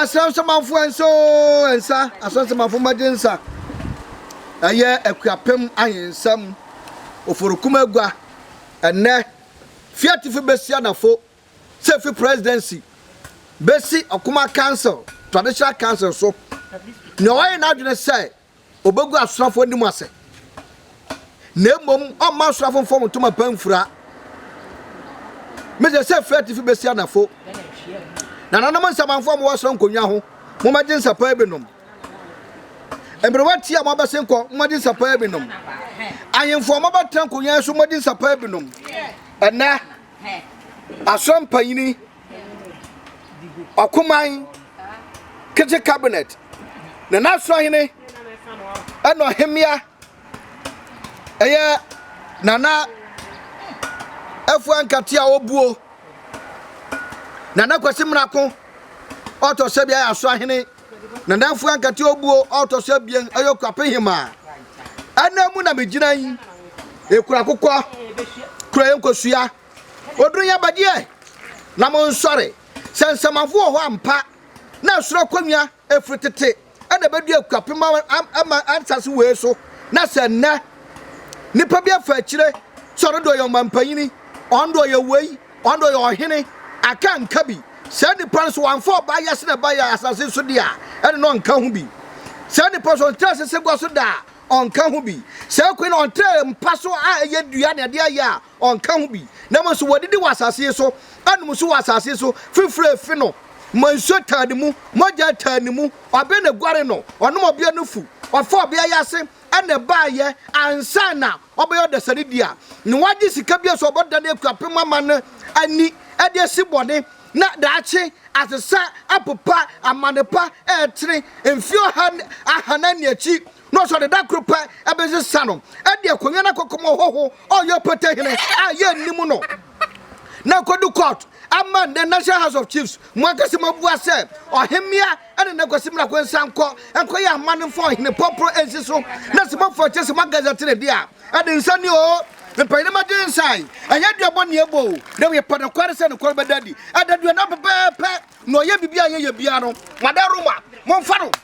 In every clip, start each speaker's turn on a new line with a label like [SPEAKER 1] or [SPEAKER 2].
[SPEAKER 1] asɛnsamafo ɛnso ɛnsa asɛnsamafo mmɛgye nsa ɛyɛ akuapem ahensɛm oforokum agua ɛnɛ fi atifi besi anafo sɛ fi presidency besi ɔkuma council traditional council so nea ɔyɛ n'adwene sɛ Obegu asrafoɔ anim ase, na mmom ɔmma asrafoɔ mfa wɔn ntoma pa mfura. Mese sɛ firi atifi bɛsi anafo, na nanom nsamanfoɔ a mowɔ soro nkonnwa ho, mommɛgye nsa paa bi nom. Mmerewa tia a moabɛsen kɔ, mommɛgye nsa paa bi nom. Ahemfo a moabɛtena nkonnwa so, mommɛgye nsa paa bi nom. Ɛnɛ, asra mpanyini ɔkoman kitchen cabinet na n'asorɔhene ɛna ɔhemmea ɛyɛ nana afua nkate a ɔbuo nana kwasi mmarako ɔtɔ sɛ bi ayɛ asorɔhene nana afua nkate ɔbuo ɔtɔ sɛ bien ɛyɛ kwapehema ɛna mu na megyina yi ekura kokɔ kura yɛ nkosua. Oduru yɛ badeɛ na mo nsɔre, sɛ nsɛmafo wɔ hɔ ampa, na ɛsoro akonnwa ɛfiri tete na ɛbɛdu akuapem ama ansase wei so, na sɛ nnɛ nipa bi afa akyire sɛ ɔno de ɔyɛ ɔmampanyini, ɔno de ɔyɛ wei, ɔno de ɔyɛ ɔhene, aka nka bi, saa nipa no so wamfa ɔbaa yɛ sene ba yɛ asase so de a, ɛne no ɔnka ho bi. Saa nipa so ɔntra asese gua so da a, ɔnka ho bi. Saa kwan na ɔntra mpa so a ɛyɛ dua na ɛde ayɛ a, Ɔnka ho bi, na mmom so wɔadidi wɔ asase yi so, anom nso wɔ asase yi so, fifire refi no ma nsuo taa ne mu, mogya taa ne mu, ɔbea na ɛguare no, ɔnom ɔbea no fu, ɔfa ɔbea yi ase na ɛbaeɛ, ansa na ɔbɛyɛ ɔdasani dea, na wagye sika bi a so ɔbɛdane akuapem ama no ani de asi bɔne, na daakye asesa apopa amane pa ɛretene mfeɛ ɔha ahanan ne akyi. na ɔsɔre da koro pɛ besesa no de akonnwa no akɔkɔm ɔhɔho a ɔyɛ ɔpata hene a yɛnnim no na akodu court ama nnɛ National House of Chiefs mu ankasa mu abua sɛ ɔhemmea ne ne kwasi mmerako nsa nkɔ nkɔyɛ amanne mfa ɔhene pɔporo nsi so na sɛ mɔfo kyɛ sɛ magazɛ tene de a ɛde nsa ni o mpanyinam agye nsa yi ɛnyɛ dua bɔ neɛ bɔ o na wɔyɛ pɛ nokware sɛ nokware bɛda adi ɛda dua na pɛpɛɛpɛ na ɔyɛ biribi a yɛyɛ biara no mada roma momfa no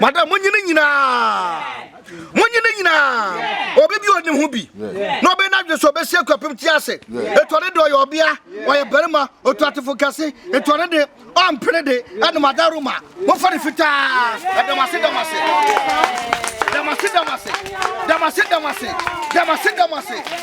[SPEAKER 1] Madam, monye ne nyinaa. Monye ne nyinaa. Obi bi ɔne ho bi. Na ɔbɛyɛ n'adwene so ɔbɛsi akwapem ti ase. Etu ne de ɔyɛ ɔbea, ɔyɛ barima, otu atefo kɛse. Etu ne de ɔmpene de ɛne madam Roma. Mofa ne fitaa. Ɛdamase damase. Damase damase. Damase damase. Damase damase.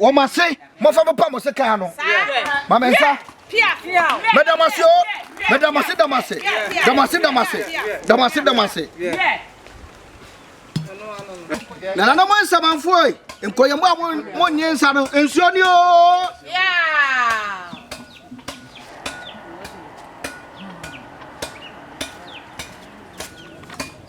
[SPEAKER 1] Wɔ mo ase, mofa mo pa mo se kaa no. Ma me nsa. Meda mo ase o. Meda mo ase, da mo ase. Da mo ase, da mo ase. Da mo ase, da mo ase. Nananom nsamanfoɔ yi, nkɔyɛmu a mo nye nsa no, nsuo ni o.